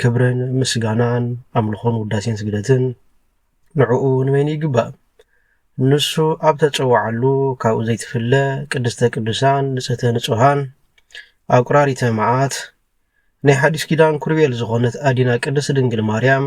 ክብርን ምስጋናን ኣምልኾን ውዳሴን ስግደትን ንዕኡ ንበይኑ ይግባእ። ንሱ ኣብ ተጸዋዓሉ ካብኡ ዘይትፍለ ቅድስተ ቅዱሳን ንጽህተ ንጹሃን ኣቁራሪተ መዓት ናይ ሓዲስ ኪዳን ኩርቤል ዝኾነት ኣዲና ቅድስት ድንግል ማርያም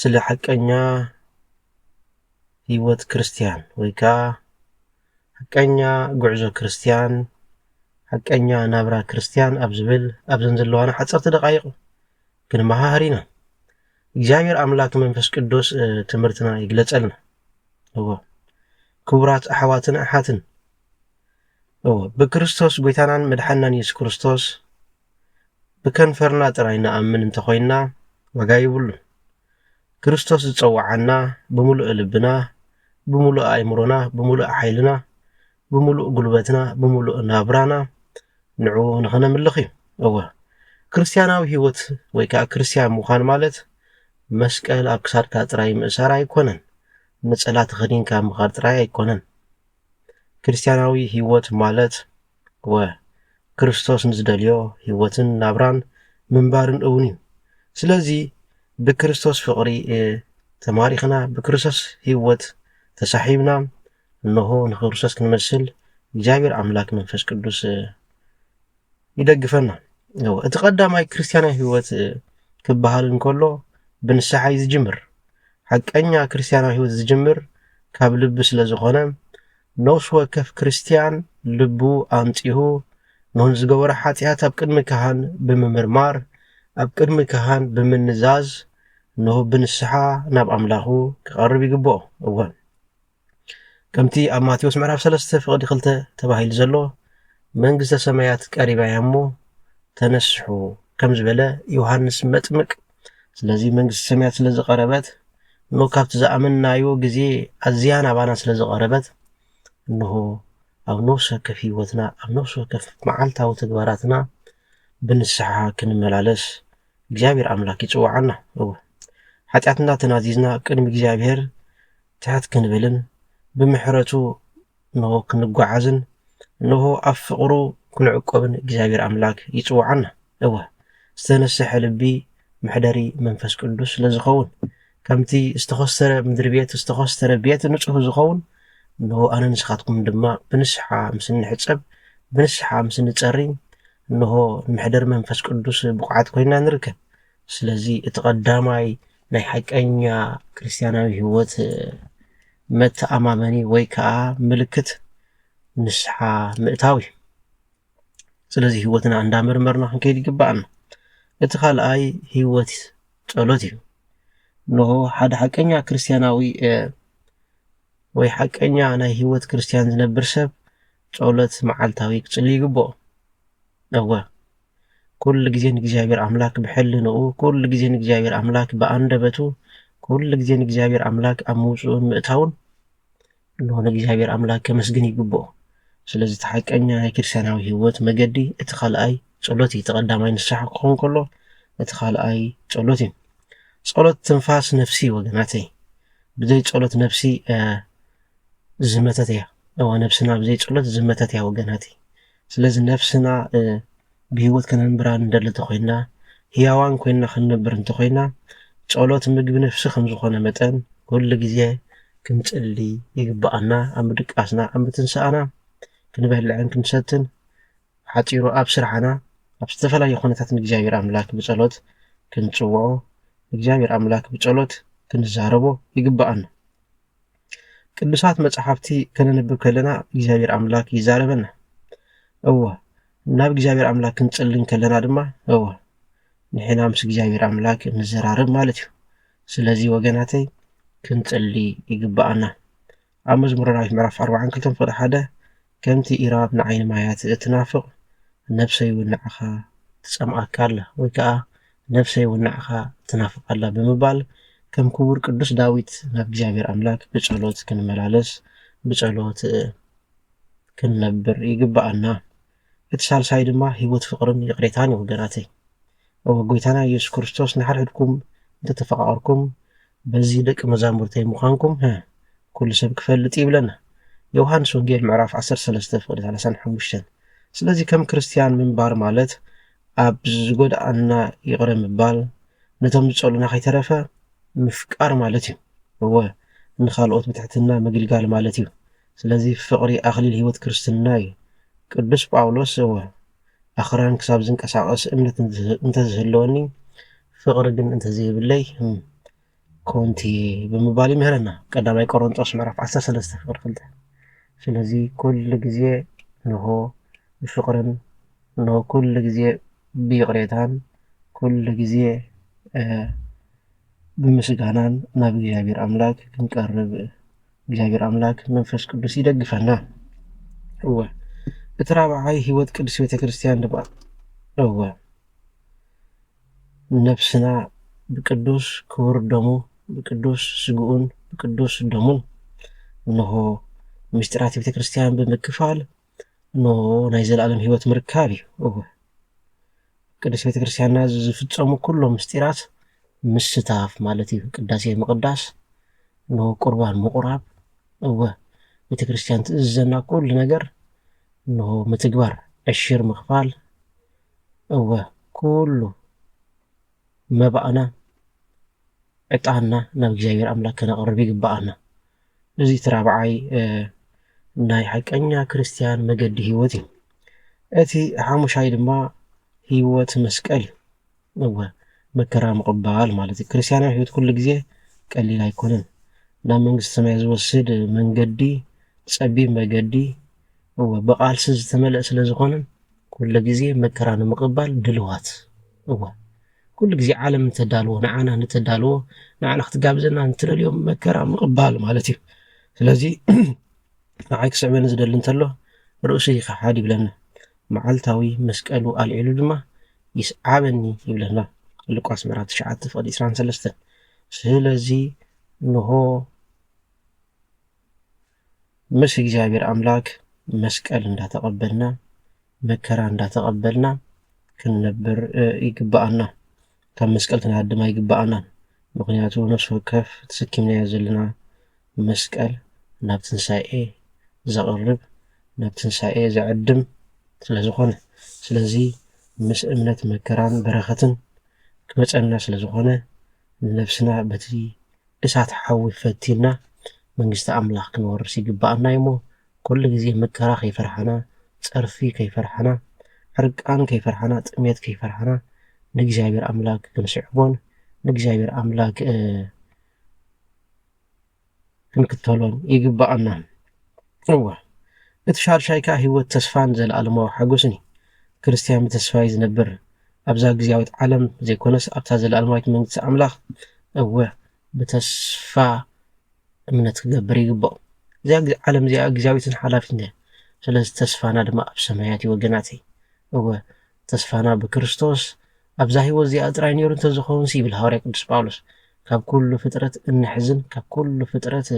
ስለ ሓቀኛ ህይወት ክርስትያን ወይ ከዓ ሓቀኛ ጉዕዞ ክርስትያን ሓቀኛ ናብራ ክርስትያን ኣብ ዝብል ኣብዘን ዘለዋና ሓፀርቲ ደቃይቕ ክንመሃሃር ኢና። እግዚኣብሔር ኣምላክ መንፈስ ቅዱስ ትምህርትና ይግለጸልና እዎ ክቡራት ኣሕዋትን ኣሓትን እዎ ብክርስቶስ ጎይታናን መድሓናን የሱስ ክርስቶስ ብከንፈርና ጥራይ ንኣምን እንተ ዀይንና ዋጋ የብሉን። ክርስቶስ ዝጸውዓና ብምሉእ ልብና፣ ብምሉእ ኣእምሮና፣ ብምሉእ ሓይልና፣ ብምሉእ ጕልበትና፣ ብምሉእ ናብራና ንዕኡ ንኸነምልኽ እዩ። እወ፣ ክርስትያናዊ ህይወት ወይ ከኣ ክርስትያን ምዃን ማለት መስቀል ኣብ ክሳድካ ጥራይ ምእሳር ኣይኰነን፣ ነጸላ ተኸዲንካ ምኻድ ጥራይ ኣይኰነን። ክርስትያናዊ ህይወት ማለት እወ፣ ክርስቶስ ንዝደልዮ ህይወትን ናብራን ምንባርን እውን እዩ። ስለዚ ብክርስቶስ ፍቕሪ ተማሪኽና፣ ብክርስቶስ ህይወት ተሳሒብና፣ እነሆ ንክርስቶስ ክንመስል እግዚኣብሔር ኣምላክ መንፈስ ቅዱስ ይደግፈና። እወ፣ እቲ ቀዳማይ ክርስቲያናዊ ህይወት ክበሃል እንከሎ ብንስሓ እዩ ዝጅምር። ሓቀኛ ክርስቲያናዊ ህይወት ዝጅምር ካብ ልቢ ስለ ዝኾነ ነፍሲ ወከፍ ክርስትያን ልቡ ኣንጺሁ ን ዝገበሮ ሓጢኣት ኣብ ቅድሚ ካህን ብምምርማር ኣብ ቅድሚ ካህን ብምንዛዝ ን ብንስሓ ናብ ኣምላኹ ክቐርብ ይግብኦ። እወ ከምቲ ኣብ ማቴዎስ ምዕራፍ ሰለስተ ፍቕዲ ክልተ ተባሂሉ ዘሎ መንግስተ ሰማያት ቀሪባ እያ እሞ ተነስሑ ከም ዝበለ ዮሃንስ መጥምቅ ስለዚ መንግስቲ ሰማያት ስለ ዝቐረበት እንሆ ካብቲ ዝኣመንናዮ ግዜ ኣዝያ ናባና ስለ ዝቐረበት እንሆ ኣብ ነፍሲ ወከፍ ህይወትና ኣብ ነፍሲ ወከፍ መዓልታዊ ተግባራትና ብንስሓ ክንመላለስ እግዚኣብሔር ኣምላክ ይፅዋዓና እወ ሓጢኣትና ተናዚዝና ቅድሚ እግዚኣብሔር ትሕት ክንብልን ብምሕረቱ እንሆ ክንጓዓዝን እንሆ ኣብ ፍቕሩ ክንዕቆብን እግዚኣብሔር ኣምላክ ይጽውዓና። እወ ዝተነሰሐ ልቢ መሕደሪ መንፈስ ቅዱስ ስለ ዝኸውን ከምቲ ዝተኾስተረ ምድሪ ቤት ዝተኾስተረ ቤት ንጹህ ዝኸውን እንሆ ኣነ ንስኻትኩም ድማ ብንስሓ ምስ እንሕጸብ ብንስሓ ምስ እንጸሪ እንሆ ንመሕደር መንፈስ ቅዱስ ብቑዓት ኮይና ንርከብ ስለዚ እቲ ቀዳማይ ናይ ሓቀኛ ክርስትያናዊ ህይወት መተኣማመኒ ወይ ከዓ ምልክት ንስሓ ምእታው እዩ። ስለዚ ህይወትና እንዳመርመርና ክንከይድ ይግባኣና። እቲ ካልኣይ ህይወት ጸሎት እዩ። እንሆ ሓደ ሓቀኛ ክርስትያናዊ ወይ ሓቀኛ ናይ ህይወት ክርስትያን ዝነብር ሰብ ጸሎት መዓልታዊ ክጽሊ ይግብኦ። እወ ኩሉ ግዜ ንእግዚኣብሔር ኣምላክ ብሕልንኡ ኩሉ ግዜ ንእግዚኣብሔር ኣምላክ ብኣንደበቱ ኩሉ ግዜ ንእግዚኣብሔር ኣምላክ ኣብ ምውፅኡን ምእታውን እንሆ ንእግዚኣብሔር ኣምላክ ከመስግን ይግብኦ ስለዚ እቲ ሓቀኛ ናይ ክርስትያናዊ ህይወት መገዲ እቲ ካልኣይ ጸሎት እዩ እቲ ቀዳማይ ንስሓ ክኸውን ከሎ እቲ ካልኣይ ጸሎት እዩ ጸሎት ትንፋስ ነፍሲ ወገናተይ ብዘይ ጸሎት ነፍሲ ዝመተት እያ እዋ ነብስና ብዘይ ጸሎት ዝመተት እያ ወገናተይ ስለዚ ነፍስና ብህይወት ከነንብራ ንደሊ እንተኾይንና፣ ህያዋን ኮይንና ክንነብር እንተኾይንና፣ ጸሎት ምግቢ ነፍሲ ከም ዝኾነ መጠን ኩሉ ግዜ ክንጽሊ ይግብኣና። ኣብ ምድቃስና፣ ኣብ ምትንሳእና፣ ክንበልዕን ክንሰትን፣ ሓጺሩ ኣብ ስራሕና፣ ኣብ ዝተፈላለዩ ኩነታት ንእግዚኣብሔር ኣምላክ ብጸሎት ክንጽውዖ፣ ንእግዚኣብሔር ኣምላክ ብጸሎት ክንዛረቦ ይግብኣና። ቅዱሳት መጽሓፍቲ ከነንብብ ከለና እግዚኣብሔር ኣምላክ ይዛረበና እወ ናብ እግዚኣብሔር ኣምላክ ክንጽልን ከለና ድማ እወ ንሕና ምስ እግዚኣብሔር ኣምላክ ንዘራረብ ማለት እዩ ስለዚ ወገናተይ ክንጽሊ ይግባኣና ኣብ መዝሙረ ዳዊት ምዕራፍ 42 ፍቅዲ ሓደ ከምቲ ኢራብ ንዓይኒ ማያት እትናፍቕ ነብሰይ ውን ንዓኻ ትጸምኣካ ኣላ ወይ ከኣ ነብሰይ ውን ንዓኻ ትናፍቕ ኣላ ብምባል ከም ክቡር ቅዱስ ዳዊት ናብ እግዚኣብሔር ኣምላክ ብጸሎት ክንመላለስ ብጸሎት ክንነብር ይግበኣና እቲ ሳልሳይ ድማ ሕይወት ፍቅርን ይቅሬታን እዩ ወገናተይ። እወ ጎይታና ኢየሱስ ክርስቶስ ንሓድሕድኩም እንተ ተፈቃቅርኩም በዚ ደቂ መዛሙርተይ ምዃንኩም ህ ኩሉ ሰብ ክፈልጥ እዩ ይብለና ዮውሃንስ ወንጌል ምዕራፍ ዓሰርተ ሰለስተ ፍቅዲ ሰላሳን ሓሙሽተን ስለዚ ከም ክርስትያን ምንባር ማለት ኣብ ዝጎድኣና ይቅረ ምባል ነቶም ዝጸሉና ከይተረፈ ምፍቃር ማለት እዩ እወ ንኻልኦት ብትሕትና ምግልጋል ማለት እዩ ስለዚ ፍቅሪ ኣኽሊል ሕይወት ክርስትና እዩ ቅዱስ ጳውሎስ እወ ኣኽራን ክሳብ ዝንቀሳቐስ እምነት እንተዝህልወኒ ፍቕሪ ግን እንተዘይብለይ ህም ኮንቲየ ብምባል ይምህረና ቀዳማይ ቆሮንጦስ ምዕራፍ 13 ፍቕሪ ክልተ ስለዚ ኩሉ ግዜ ንሆ ብፍቕርን ንሆ ኩሉ ግዜ ብይቕሬታን ኩሉ ግዜ ብምስጋናን ናብ እግዚኣብሔር ኣምላክ ክንቀርብ እግዚኣብሔር ኣምላክ መንፈስ ቅዱስ ይደግፈና እወ እቲ ራብዓይ ህይወት ቅዱስ ቤተክርስትያን ድማ እወ ነብስና ብቅዱስ ክቡር ደሙ ብቅዱስ ስግኡን ብቅዱስ ደሙን እነሆ ምስጢራት ቤተክርስትያን ብምክፋል እሞ ናይ ዘለኣለም ህይወት ምርካብ እዩ። እወ ቅድስት ቤተ ክርስቲያንና ዝፍጸሙ ኩሎም ምስጢራት ምስታፍ ማለት እዩ። ቅዳሴ ምቕዳስ፣ እሞ ቁርባን ምቑራብ፣ እወ ቤተ ክርስቲያን ትእዝዘና ኩሉ ነገር እሞ ምትግባር፣ ዕሽር ምኽፋል፣ እወ ኩሉ መባእና ዕጣንና ናብ እግዚኣብሔር ኣምላክ ከነቅርብ ይግበኣና። እዚ እቲ ራብዓይ ናይ ሓቀኛ ክርስትያን መገዲ ህይወት እዩ። እቲ ሓሙሻይ ድማ ህይወት መስቀል እዩ። እወ መከራ ምቕባል ማለት እዩ። ክርስትያናዊ ህይወት ኩሉ ግዜ ቀሊል ኣይኮነን። ናብ መንግስቲ ሰማይ ዝወስድ መንገዲ ጸቢብ መገዲ እወ ብቓልሲ ዝተመልአ ስለ ዝኾነ ኩሉ ግዜ መከራ ንምቕባል ድልዋት እወ ኩሉ ግዜ ዓለም ንተዳልዎ ንዓና ንተዳልዎ ንዓና ክትጋብዘና ንትደልዮ መከራ ምቕባል ማለት እዩ። ስለዚ ንዓይ ክስዕበኒ ዝደሊ እንተሎ ርእሱ ይኸሓድ ይብለና። መዓልታዊ መስቀሉ ኣልዒሉ ድማ ይስዓበኒ ይብለና። ሉቃስ ምዕራፍ 9 ፍቕዲ 23 ስለዚ ንሆ ምስ እግዚኣብሔር ኣምላክ መስቀል እንዳተቀበልና መከራ እንዳተቀበልና ክንነብር ይግበኣና ካብ መስቀል ክንሃድም ኣይግበኣናን ምክንያቱ ነፍሲ ወከፍ ተሰኪምናዮ ዘለና መስቀል ናብ ትንሳኤ ዘቅርብ ናብ ትንሳኤ ዘዕድም ስለዝኮነ ስለዚ ምስ እምነት መከራን በረከትን ክመፀና ስለዝኮነ ንነብስና በቲ እሳት ሓዊ ፈቲንና መንግስቲ ኣምላኽ ክንወርስ ይግብኣና እዩሞ ኩሉ ግዜ መከራ ከይፈርሓና ጸርፊ ከይፈርሓና ሕርቃን ከይፈርሓና ጥሜት ከይፈርሓና ንእግዚኣብሔር ኣምላክ ክንስዕቦን ንእግዚኣብሔር ኣምላክ ክንክተሎን ይግብኣና። እወ፣ እቲ ሻድሻይ ከኣ ህይወት ተስፋን ዘለኣለማዊ ሓጐስን እዩ። ክርስትያን ብተስፋ እዩ ዝነብር፣ ኣብዛ ግዝያዊት ዓለም ዘይኰነስ ኣብታ ዘለኣለማዊት መንግስቲ ኣምላኽ። እወ፣ ብተስፋ እምነት ክገብር ይግብኦ። እዚኣ ዓለም እዚኣ ግዝያዊትን ሓላፊትን እያ፣ ስለዚ ተስፋና ድማ ኣብ ሰማያት እዩ ወገናተይ። እወ፣ ተስፋና ብክርስቶስ ኣብዛ ህይወት እዚኣ ጥራይ ነይሩ እንተዝኸውንሲ ይብል ሃዋርያ ቅዱስ ጳውሎስ ካብ ኩሉ ፍጥረት እንሕዝን ካብ ኩሉ ፍጥረት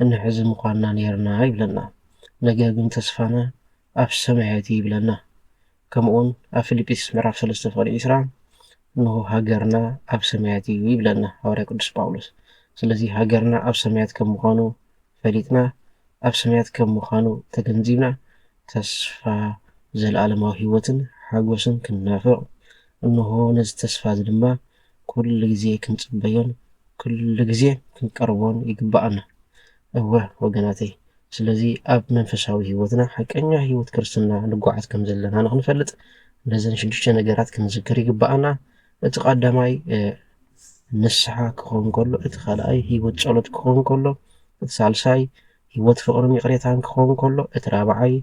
እንሕዝ ምኳንና ኔርና ይብለና። ነገር ግን ተስፋና ኣብ ሰማያት'ዩ ይብለና። ከምኡ'ውን ኣብ ፊልጵስዩስ ምዕራፍ ሰለስተ ፍቕዲ ዕስራ እንሆ ሃገርና ኣብ ሰማያት'ዩ ይብለና ሃዋርያ ቅዱስ ጳውሎስ። ስለዚ ሃገርና ኣብ ሰማያት ከም ምኳኑ ፈሊጥና፣ ኣብ ሰማያት ከም ምኳኑ ተገንዚብና ተስፋ ዘለኣለማዊ ሕይወትን ሓጎስን ክንናፍቕ እንሆ ነዚ ተስፋ'ዚ ድማ ኩሉ ግዜ ክንጽበዮን ኩሉ ግዜ ክንቀርቦን ይግብኣና። እወ ወገናተይ ስለዚ ኣብ መንፈሳዊ ህይወትና ሓቀኛ ህይወት ክርስትና ንጓዓዝ ከም ዘለና ንኽንፈልጥ ነዘን ሽዱሽተ ነገራት ክንዝክር ይግብኣና። እቲ ቀዳማይ ንስሓ ክኸውን ከሎ፣ እቲ ካልኣይ ህይወት ጸሎት ክኸውን ከሎ፣ እቲ ሳልሳይ ህይወት ፍቕርን ይቕሬታን ክኸውን ከሎ፣ እቲ ራብዓይ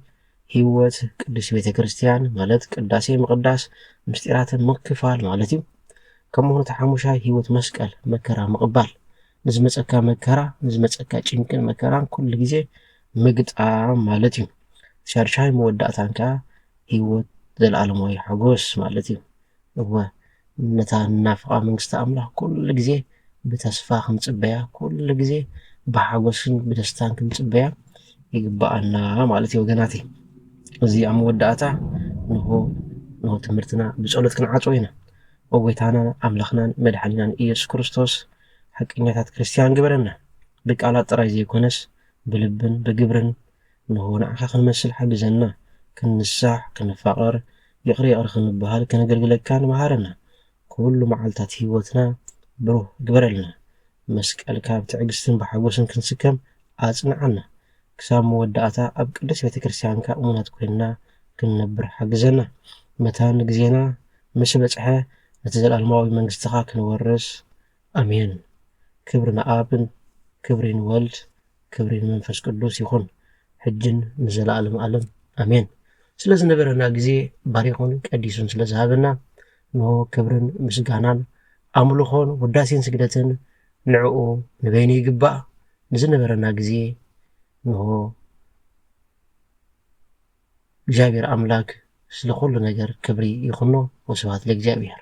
ሕይወት ቅድስት ቤተ ክርስቲያን ማለት ቅዳሴ ምቕዳስ፣ ምስጢራተ ምክፋል ማለት እዩ። ከምኡውን እቲ ሓሙሻይ ሕይወት መስቀል መከራ ምቕባል፣ ንዝመጸካ መከራ ንዝመጸካ ጭንቅን መከራን ኩሉ ጊዜ ምግጣም ማለት እዩ። ሻድሻይ መወዳእታን ከኣ ሕይወት ዘለዓለማዊ ሓጎስ ማለት እዩ። እወ፣ ነታ ንናፍቓ መንግስቲ ኣምላኽ ኵሉ ግዜ ብተስፋ ክንጽበያ፣ ኵሉ ግዜ ብሓጐስን ብደስታን ክንጽበያ ይግብኣና ማለት እዩ። ወገናተይ፣ እዚ ኣብ መወዳእታ ንሆ ንሆ ትምህርትና ብጸሎት ክንዓጽዎ ኢና። ኦ ጐይታና ኣምላኽናን መድሓኒናን ኢየሱስ ክርስቶስ፣ ሓቀኛታት ክርስትያን ግበረና፣ ብቃላት ጥራይ ዘይኰነስ ብልብን ብግብርን እንሆ ንዓኻ ክንመስል ሓግዘና፣ ክንንሳሕ፣ ክንፋቐር፣ ይቕረ ይቕረ ክንበሃል፣ ከነገልግለካን መሃረና፣ ኩሉ መዓልታት ህይወትና ብሩህ ግበረልና፣ መስቀልካ ብትዕግስትን ብሓጎስን ክንስከም ኣጽንዓና፣ ክሳብ መወዳእታ ኣብ ቅድስት ቤተ ክርስቲያንካ እሙናት ኮይንና ክንነብር ሓግዘና፣ መታን ግዜና ምስ በጽሐ ነቲ ዘለኣለማዊ መንግስትኻ ክንወርስ ኣሜን ክብሪ ንኣብ ክብሪ ንወልድ ክብሪ ንመንፈስ ቅዱስ ይኹን ሕጅን ንዘለኣለም ኣለም ኣሜን ስለ ዝነበረና ግዜ ባሪኹን ቀዲሱን ስለ ዝሃበና እንሆ ክብርን ምስጋናን ኣምልኾን ውዳሴን ስግደትን ንዕኡ ንበይኑ ይግባእ ንዝነበረና ግዜ እንሆ እግዚኣብሔር ኣምላክ ስለ ኩሉ ነገር ክብሪ ይኹኖ ወስብሐት ለእግዚኣብሔር